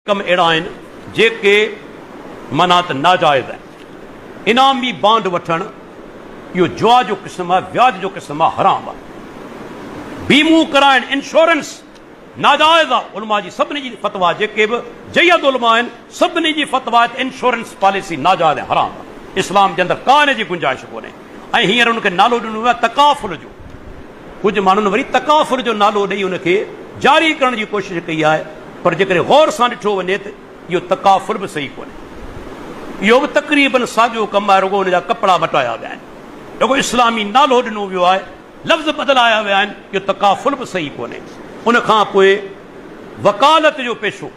ڪم اهڙا آهن جيڪي معنيٰ ته ناجائز آهن. انعامي بانڊ وٺڻ، اهو جوا جو قسم آهي، وياج جو قسم آهي، حرام آهي. بيمو ڪرائڻ، انشورنس، ناجائز آهي. علماء جي سڀني جي فتويٰ آهي، جيڪي به جيد علماء آهن، سڀني جي فتويٰ آهي ته انشورنس پاليسي ناجائز ۽ حرام آهي. اسلام جي اندر ڪا ان جي گنجائش ڪونهي ۽ هينئر ان کي نالو ڏنو ويو آهي تڪافل جو. ڪجهه ماڻهن وري تڪافل جو نالو ڏئي ان کي جاري ڪرڻ جي ڪوشش ڪئي آهي پر جيڪڏهن غور سان ڏٺو وڃي ته اهو تڪافل به صحيح ڪونهي. اهو به تقريبن ساڳيو ڪم آهي رڳو ان جا ڪپڙا مٽايا ويا آهن. رڳو اسلامي نالو ڏنو ويو آهي، لفظ بدلايا ويا آهن، اهو تڪافل به صحيح ڪونهي. ان کان پوء وڪالت جو پيشو.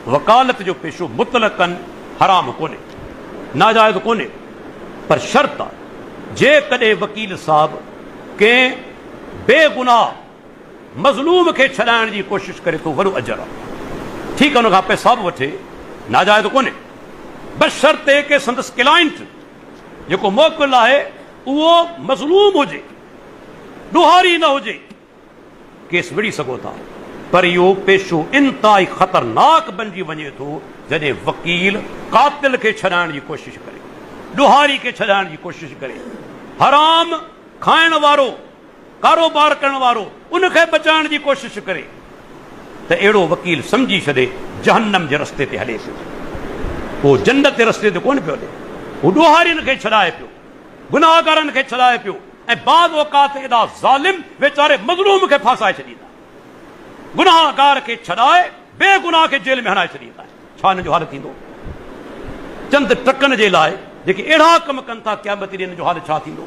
وڪالت جو پيشو مطلقاً حرام ڪونهي، ناجائز ڪونهي، پر شرط آهي جيڪڏهن وڪيل صاحب ڪنهن بي گناهه مظلوم کي ڇڏائڻ جي ڪوشش ڪري ٿو وڏو اجر آهي، ٺيڪ آهي ان کان پئسا به وٺي، ناجائز ڪونهي، بشرطيڪ ڪي سندس ڪلائنٽ جيڪو موڪل آهي اهو مظلوم هجي، ڏوهاري نه هجي. ڪيس وڙهي سگهو ٿا پر اهو پيشو انتهائي خطرناڪ بنجي وڃي ٿو جڏهن وڪيل قاتل کي ڇڏائڻ جي ڪوشش ڪري، ڏوهاري کي ڇڏائڻ جي ڪوشش ڪري، حرام کائڻ وارو ڪاروبار ڪرڻ وارو ان کي بچائڻ جي ڪوشش ڪري ته اهڙو وڪيل سمجهي ڇڏي جهنم جي رستي تي هلي پيو اهو جنت جي رستي تي ڪونه پيو هلي اهو ڏوهارين کي ڇڏائي پيو. گناهگارن کي ڇڏائي پيو ۽ بعض اوقات ادا ظالم ويچاري مظلوم کي ڦاسائي ڇڏيندا آهن. گناهگار کي ڇڏائي بي گناهه کي جيل ۾ هڻائي ڇڏيندا آهن. ڇا هنن جو حال ٿيندو؟ چند ٽڪن جي لاء جيڪي اهڙا ڪم ڪن ٿا قيامت ڏينهن هنن جو حال ڇا ٿيندو؟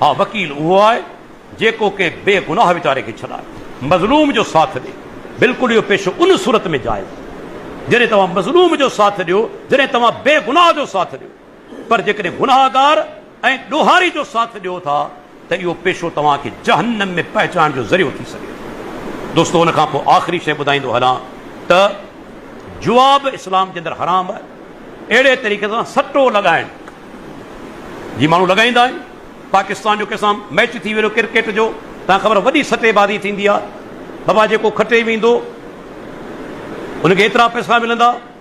ها وڪيل اهو آهي جيڪو ڪنهن بي گناهه ويچاري کي ڇڏائي مظلوم جو ساٿ ڏي. بلڪل اهو پيشو ان صورت ۾ جائز آهي جڏهن توهان مظلوم جو ساٿ ڏيو جڏهن توهان بي گناهه جو ساٿ ڏيو. پر جيڪڏهن گنهگار ۽ ڏوهاري جو ساٿ ڏيو ٿا ته اهو پيشو توهان کي جهنم ۾ پهچائڻ جو ذريعو ٿي سگهي ٿو. دوستو ان کان پوء آخري شيء ٻڌائيندو هلان ته جوا به اسلام جي اندر حرام آهي. اهڙي طريقي سان سٽو لڳائڻ جي ماڻهو لڳائيندا آهن. پاڪستان جو ڪنهن سان ميچ ٿي ويندو ڪرڪيٽ جو توهان خبر وڏي سٽي بازي ٿيندي آهي. بابا جيڪو کٽي ويندو ان کي ايترا پئسا ملندا.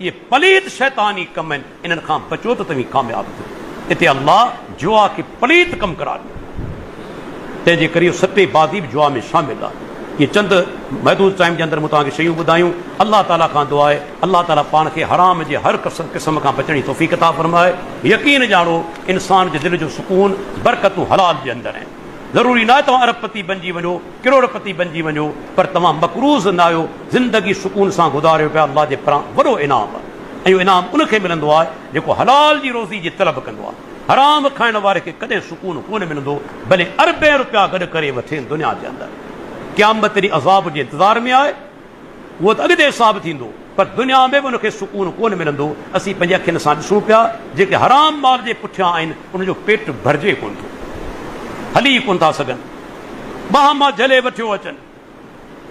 اهي پليت شيطاني ڪم آهن انهن کان بچو ته توهين ڪامياب ٿيو اتي الله جوا کي پليت ڪم قرار ڏنو آهي تنهن جي ڪري اهو سٽي بازي به جوا ۾ شامل آهي اهي چند محدود ٽائيم جي اندر مون توهان کي شيون ٻڌايون الله تعالي کان دعا آهي الله تعالي پاڻ کي حرام جي هر قسم کان بچڻ جي توفيق عطا فرمائي يقين ڄاڻو انسان جي دل جو سڪون برڪتون حلال جي اندر آهن. ضروري ناهي توهان ارب پتي بنجي وڃو، ڪروڙ پتي بنجي وڃو پر توهان مقروض نه آهيو، زندگي سڪون سان گذاريو پيا الله جي پران وڏو انعام آهي ۽ اهو انعام ان کي ملندو آهي جيڪو حلال جي روزي جي طلب ڪندو آهي، حرام کائڻ واري کي ڪڏهن سڪون ڪونه ملندو ڀلي اربين روپيا گڏ ڪري وٺين دنيا جي اندر قيامت ڏينهن عذاب جي انتظار ۾ آهي. اهو ته اڳتي حساب ٿيندو پر دنيا ۾ به ان کي سڪون ڪونه ملندو، اسين پنهنجي اکين سان ڏسون پيا جيڪي حرام مال جي پٺيان آهن انهن جو پيٽ ڀرجي ڪونه ٿو هلي ڪونه ٿا سگهن ٻانهن مان جهلي وٺيو اچن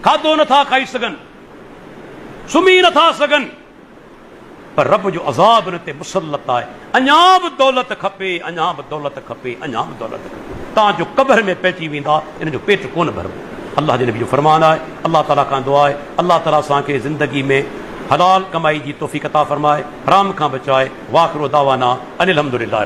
کاڌو نٿا کائي سگهن سمهي نٿا سگهن. پر رب جو عذاب ان تي مسلط آهي، اڃا به دولت کپي، اڃا به دولت کپي، اڃا به دولت کپي، تان جو قبر ۾ پئجي ويندا، ان جو پيٽ ڪونه ڀربو. الله جي نبي جو فرمان آهي، الله تعاليٰ کان دعا آهي، الله تعاليٰ اسان کي زندگي ۾ حلال ڪمائي جي توفيق عطا فرمائي، حرام کان بچائي، واخر دعوانا ان الحمدللّٰه.